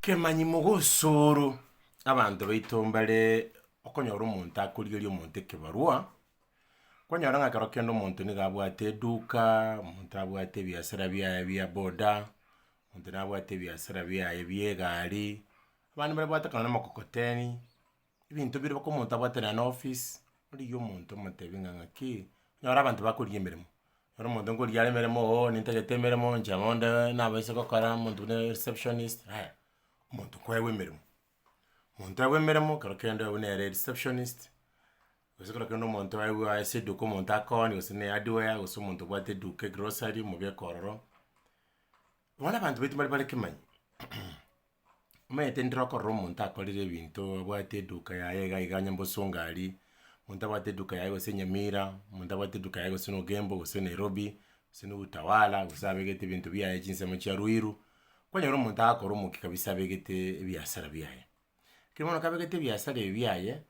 Kemanyi mogosoro abanto baito mbare okonyora omonto akorigeria omonto ekebarua, kwanyora ng'a ekero kende omonto nigo abwate eduka, omonto abwate ebiasara biaye bia boda, omonto nabwate ebiasara biaye bia egari, abande mbare babwate kare namokokoteni. ebinto bire mpaka omonto abwate naye na office, origie omonto omotebi ng'a ng'aki, onyore abanto bakorigia emeremo, onyore omonto nkorigia are emeremo oo nintagete emeremo inche bonde nabo ase gokora omonto buna ereceptionist yaya, omonto kwewa emeremo, omonto aewa emeremo ekero kende obe nere ereceptionist, gose ekero kende omonto aewa ase eduka omonto akoonie gose na ehardware gose omonto obwate eduka egrocery omobeke ororo, bono abanto baito mbare bare kemanyi. omanyete ndire okorora omonto akorire ebinto abwate eduka yaye iga iga onye bosongari, omonto abwate eduka yaye gose nyamira, omonto abwate eduka yaye gose na ogembo gose nairobi, gose na utawala, gose abegete ebinto biaye chinsemo chia ruiru, kwanyora omonto agokora omokia kabisa abegete ebiasara biaye. Lakini bono kabegete ebiasara ebi biaye,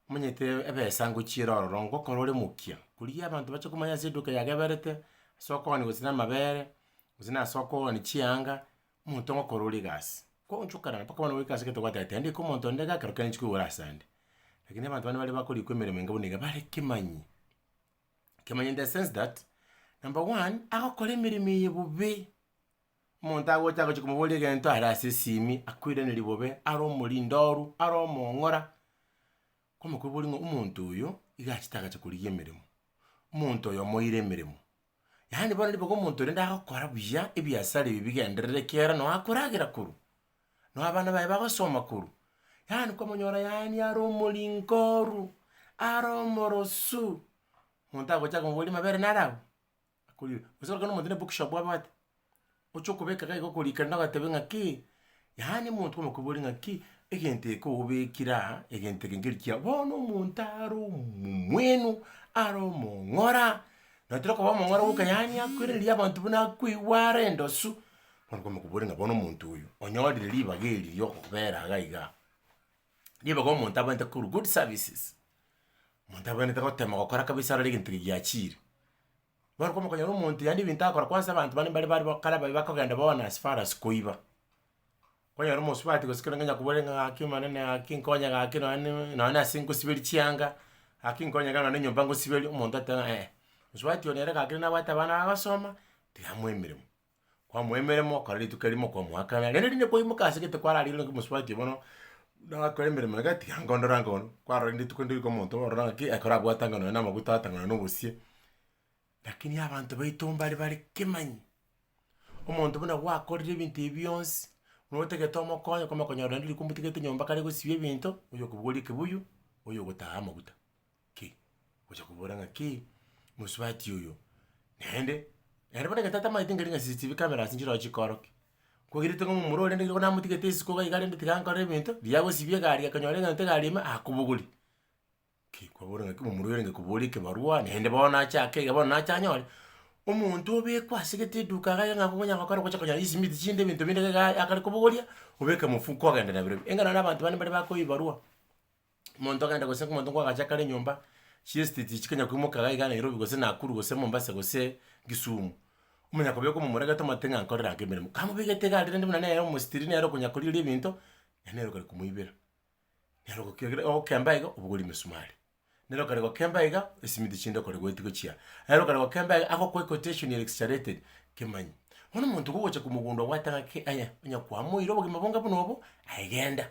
omanyete ebesa ngochiera ororo ngokora ore mokia, korigia abanto bache komanya ase eduka yageberete, ase okogania gose na amabere, gose nase okogania chianga. Omonto ogokora ore egasi, kwaonchokanana mpaka bono goika ase egento goteba ati handika omonto onde gake rokere nchiko igoro ase ande. Lakini abanto bande bare bakorikwa emeremo enga buna eye bare kemanyi. Kemanyi in the sense that, number one, agokora emeremo eye bobe, omonto agocha agochia komobora egento are ase esimi akoiraneria bobe, are omorindoru, are omong'ora, kwamokobori ng'a omonto oyo iga achete agacha korigia emeremo. Omonto oyo omoire emeremo, Yaani bono ribaga omonto rende agokora buya ebiasara ebi bigenderere ekiagera nao akoragera korwa, nao abana baye bagosoma korwa. Yaani kwamonyora yaani are omorinkoru, are omorosu, omonto agocha komoboria mabere nare abwo? Akoria gose omonto na ebookshop abwate. oche okobeka iga iga okorikera na ogateba ng'a ki, yaani omonto omokoboria ng'a ki, egento eke obekire aa, egento eke nkeri kiya, bono omonto are omomwenu, are omong'ora, natari okoba omong'ora goka yaani akoiraneria abanto buna akoigwa are endosu, bono okomokoboria ng'a bono omonto oyo onyorire ribaga eri ria okobera iga iga, ribaga omonto abwenerete korwa good services, omonto abwenerete gotema gokora kabisa arore egento eke giachiire. Nabo okomokonyera omonto yaani ebinto akora kwanza abanto bande mbare bare kare baye bakogenda bono as far as koiba. Okonyora omosubati gose ekero onye kobore ng'a gaki omonene gaki nkonye gaki nonye ne nonye nase ngosiberia chianga, gaki nkonye iga nonye na enyomba ngosiberia, omonto ateba ng'a eh, mosubati oyo nere gaki nabwate abana baye basoma, tiga amoe emeremo. kwamoa emeremo, okora rituko erimo kwamoakana, rende rinde kwaimoka ase egete kwararire naki mosubati bono, nagakora emeremo iga tiga nko ndore ango onye, kwarorire rituko ndiriko omonto ororo ng'aki ekero abwate anga nonya na amaguta ata nonya na obosie. Lakini abanto baito mbare bare kemanyi, omonto buna gwakorire ebinto ebi bionsi, nigo otagete omokonye, kwamanya konyora rende riko omotigete nyomba kare gosiba ebinto, oyokobogoria ekebuyu, oyogotaha amaguta. ki? Gocha kobora ng'a ki, mosubati oyo naende, naende bono egento atamaete nkeri ng'a CCTV camera ase nchirogo chikoro ki. Kogerete ng'a momura oria ndegeru namotigete isiko iga iga rende tiga nkore ebinto, riria agosibia egari akanyora egento egari ime, akobogori. Ki kwabora ng'aki momura oyo arenge kobora ekebarwa naende bono ache ake iga bono nache anyore, omonto obekwa ase gete eduka iga iga ng'a konya gokora gocha konyora chisimiti chinde ebinto binde iga iga akare kobogoria, obeke mofuko ogende nabirobio. Enga nonye na abanto bande mbare bakoa ebibarwa. Omonto agende gose omonto nkwagacha kare nyomba, chiesiti echi chikonya koimoka iga iga Nairobi gose Nakuru gose Mombasa gose Kisumu, omonya kobeka omomoregete omanyete ng'a nkorere ake emeremo. Kamobegete iga aria rende buna nere omositiri nere okonya korigereria ebinto, na nere okare komoibera. Nere ogoki egere ogokemba iga obogori emesumari, nere okare gokemba iga esimiti chinde okore goeti gochia, nere okare gokemba iga agokoe quotation ere exaggerated kemanye. Bono omonto iga ogocha komogunda obwate ng'aki aye, onye kwamoire obogima bonga buna obo, aye genda.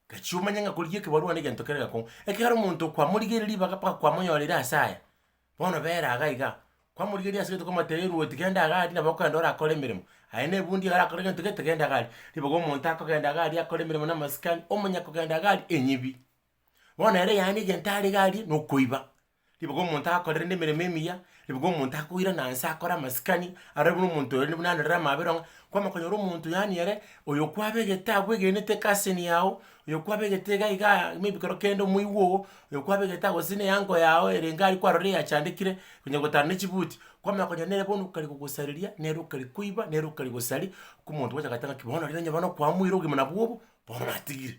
Gachia omenye ng'a korigia ekebarua negento kere gakong'u. Ekero omonto kwamorigeire ribaga mpaka kwamonyoreire ase aya, bono bera iga iga. Kwamorigeria ase gento kwamotebia ruoti genda iga aria nabo okogenda ore akore emeremo. Aye na ebundi iga arakore gento gete genda iga aria. Ribaga omonto akogenda iga aria akore emeremo na amasikani, omonyakogenda iga aria enyibi. Bono ere yaani egento are iga aria nokoiba. Riboka omonto akorerende emeremo emiya, riboka omonto akoirana nse akore amasikani, arore buna omonto oyo buna arorere amabera ng'a kwamanya konyora omonto yaani ere oyo kwabegete agwo egenete ecousin yago, oyo kwabegete iga igaa maybe kero kende omoigwa oo, oyo kwabegete ago gose na eango yago ere iga aria kwarorire yachandekire, konya gotara ne chibuti, kwamanya konyora nere bono okare gogosareria, nere okare koiba, nere okare gosaria, kwao omonto gocha goteba ng'aki bono rirorio onye bono kwamoire obogima nabwo obo, bono natigire.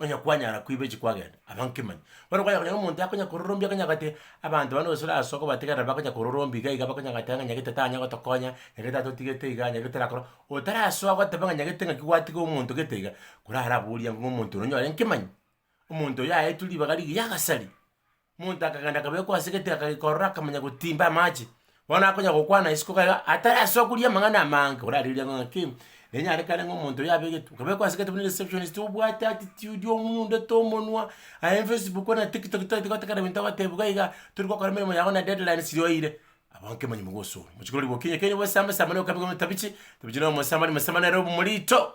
Onye kwanyara koiba echi kwagenda aba nkemani. Bono kwanyara konya omonto yakonya kororombia akonya gati abanto bande gose ase okobategerera bakonya kororombia iga iga bakonya gati ng'a nyagete tanya gotokonya, nyagete atotigete iga, nyagete torakora, otarasoa goteba ng'a nyagete ng'aki gwatiga omonto gete iga, korara abori ang'e ng'a omonto oyo nonye ore nkemani, omonto oyo aetwe ribaga rigiya agasari. Omonto akagenda akabekwa ase egetebe akagekorora akamanya gotimba amache. Bono akonya gokwana isiko iga iga atarasokuria amang'ana amange orarigeria ng'a ng'aki nenyarekane ng'a omonto oyo abegetwe okabekwa ase egetebe na receptionist obwate attitude omoyondete omonwa aye facebook na tiktok tari gotegerera ebinto agotebiwa iga iga tori gokora emeremo yago na deadline siri oeire abwo nki manyomwa gosora botuko riria bokinyi ekenyoro bwesamba samba nokabe ng'a otabichi tabichi na omosambani mosambani nere obe morito.